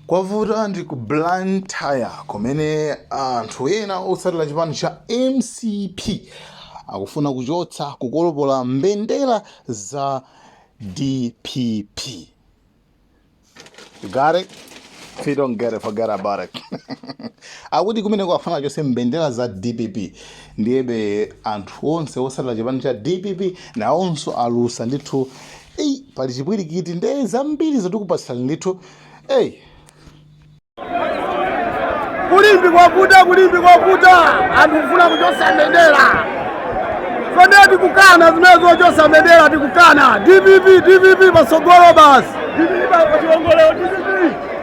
kwavuta ndi ku blantyre kumene anthu ena otsatira chipani cha mcp akufuna kuchotsa kukolopola mbendera za dpp you got it if you don't get it forget about it akuti kumene kwafuna achotse mbendera za dpp ndiyebe anthu onse otsatira chipani cha dpp nawonso alusa ndithu ei pali chipwirikiti nde zambirizo tikupatsani ndithu ei kulimbi kwavuta kulimbi kwavuta anthu kufuna kuchotsa mbendera kodi tikukana zimenezo zochotsa mbendera tikukana dpp dpp patsogolo basi dpp pachiwongolero dpp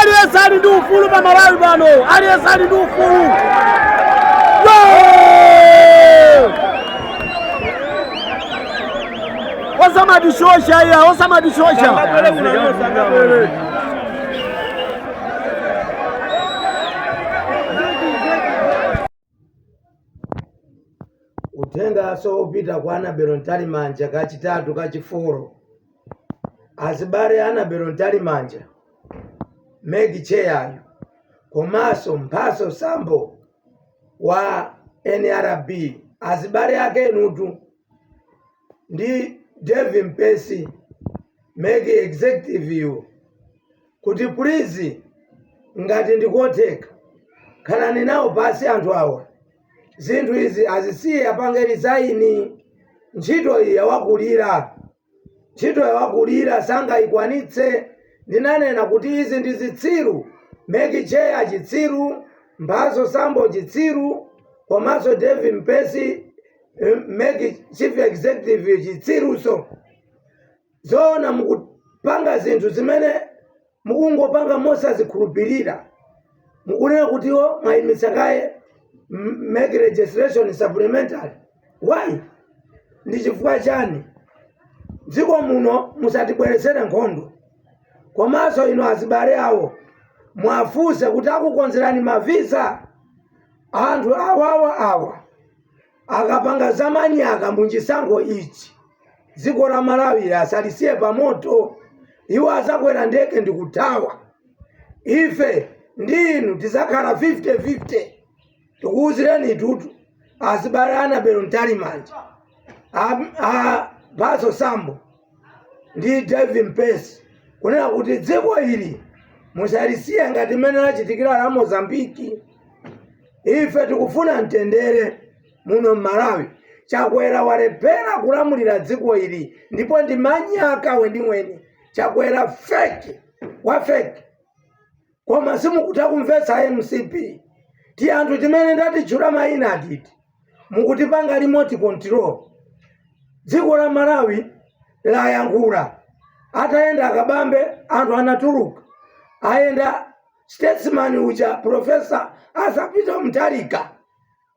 Aliyense ali ndi ufulu pa Malawi pano, aliyense ali ndi ufulu. Osamatishosha iya, osamatishosha. Uthenganso wopita kwa Annabel Mtalimanja kachitatu kachifolo Azibale a Annabel Mtalimanja, Mec Chair yu komanso Mphatso Sambo wa nrb azibale ake inutu ndi Davie Mpesi Mec Executive yu, kuti please ngati ndikotheka khalani nawo pasi anthu awa zinthu izi azisiye apange resign ntchito iyi yawakulira ntchito yawakulira sangayikwanitse ndinanena kuti izi ndi zitsiru mec chair chitsiru mphatso sambo chitsiru komanso davie mpesi eh, mec chief executive chitsiruso Zoona mukupanga zinthu zimene mukungopanga mosazikhulupirira. Mukunena kuti iwo mwayimitsa kaye m- MEC registration supplementary. Why? Ndi chifukwa chani? Dziko muno musatibweretsere nkhondo. Komanso inu azibale awo mwafunse kuti akukonzerani mavisa anthu awawa awa. akapanga zamanyaka munchisankho ichi dziko la malawi azalisiye pamoto iwo azakwera ndege ndikuthawa ife ndi inu tizakhala 50-50 tikuwuzireni inutu azibale annabel mtalimanja A- a- mphatso sambo ndi Dave Mpesi kunena kuti dziko ili musalisiye ngati mmene lachitikira la Mozambiki. Ife tikufuna mtendere muno m'Malawi. Chakwera walephera kulamulira dziko ili ndipo ndi manyaka weniweni. Chakwera fake wa fake. koma simukutha kumvetsa mcp ti anthu timene ndatitchula mayina atiti mukutipanga remote control dziko la malawi layankhula atayenda akabambe anthu anatuluka ayenda statesman uja profesa Arthur Peter Mutharika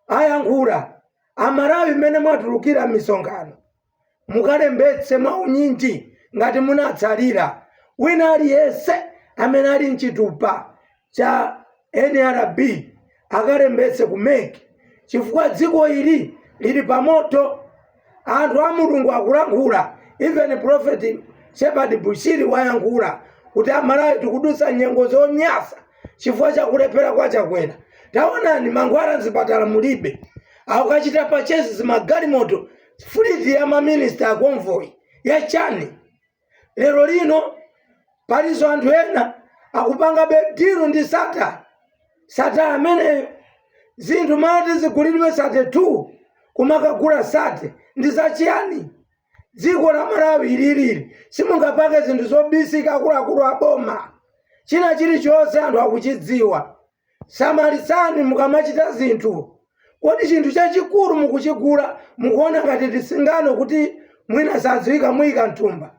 ayankhula amalawi mmene mwatulukira m'misonkhano mukalembetse mwaunyinji ngati munatsalira. Wina aliyense amene ali ndi chitupa cha nrb akalembetse ku mec chifukwa dziko ili lili pa moto. Anthu a Mulungu akulankhula even prophet Shepherd Bushiri wayankhula kuti amalawi tikudutsa nyengo zonyasa chifukwa cha kulephera kwa Chakwera. Taonani mankhwala m'zipatala mulibe. Akukachita purchase zimagalimoto Fleet ya ma minister a convoy ya chani? Lero lino palinso anthu ena akupangabe deal ndi Sattar. Sattar ameneyo zinthu m'mati zigulidwe 32 kumakagula 30 ndi za chiyani? Dziko la Malawi ili lili simungapange zinthu zobisika akuluakulu a boma. China chilichonse anthu akuchidziwa. Samalitsani mukamachita zinthu. Kodi chinthu chachikulu mukuchigula mukuona ngati tisingano kuti mwina sadziwika muyika mthumba?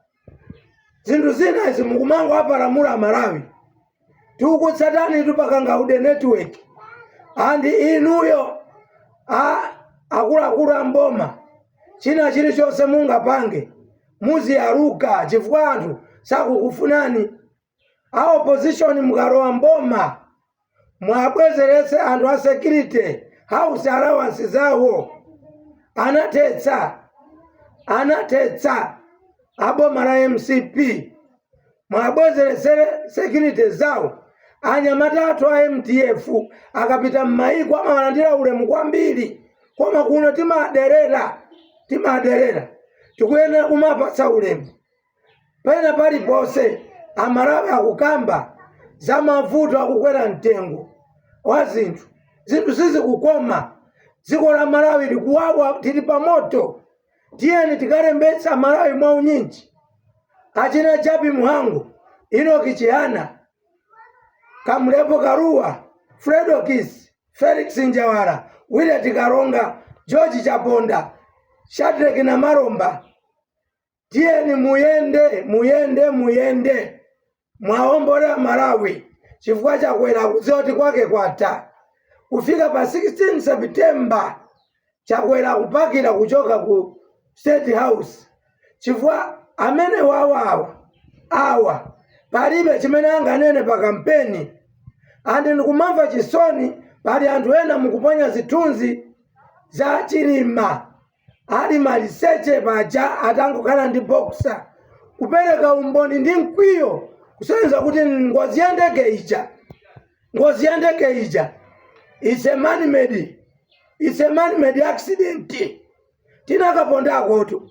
Zinthu zina izi mukumangowapalamula amalawi. Tikukutsatanitu pa kangaude network ndi inuyo a akuluakulu a m'boma china chilichonse mungapange muziyaluka chifukwa anthu sakukufunani. a opposition mukalowa mboma muabwezeretse anthu a security house allowance zawo anathetsa anathetsa aboma la mcp muwabwezeretsere security zawo anyamata athu a mdf akapita m'mayiko amawalandira ulemu kwambiri koma kuno timaderera timaderera tikuyenera kumapatsa ulemu Pena paliponse Amalawi akukamba za mavuto akukwera mtengo wa zinthu, zinthu sizikukoma, dziko la Malawi likuwawa tili pa moto, tiyeni tikalembetse Amalawi mwa unyinji. Achina Jappie Mhango, Enock Chihana, Kamlepo Kalua, Fred Okis, Felix Njawala, Willet Kalonga, George Chaponda, Shadreck Namalomba, tiyeni muyende muyende muyende muwombole malawi chifukwa chakwera akudziwa kuti kwake kwatha kufika pa 16 september chakwera akupakira kuchoka ku state house chifukwa amene wawawa awa palibe chimene anganene pa kampeni andi ndikumamva chisoni pali anthu ena mukuponya zithunzi za chilima ali maliseche paja atangokhala ndi boxer kupereka umboni ndi mkwiyo kusonyeza kuti ngozi ya ndege ija ngozi ya ndege ija it's a man made it's a man made accident tinakapondakotu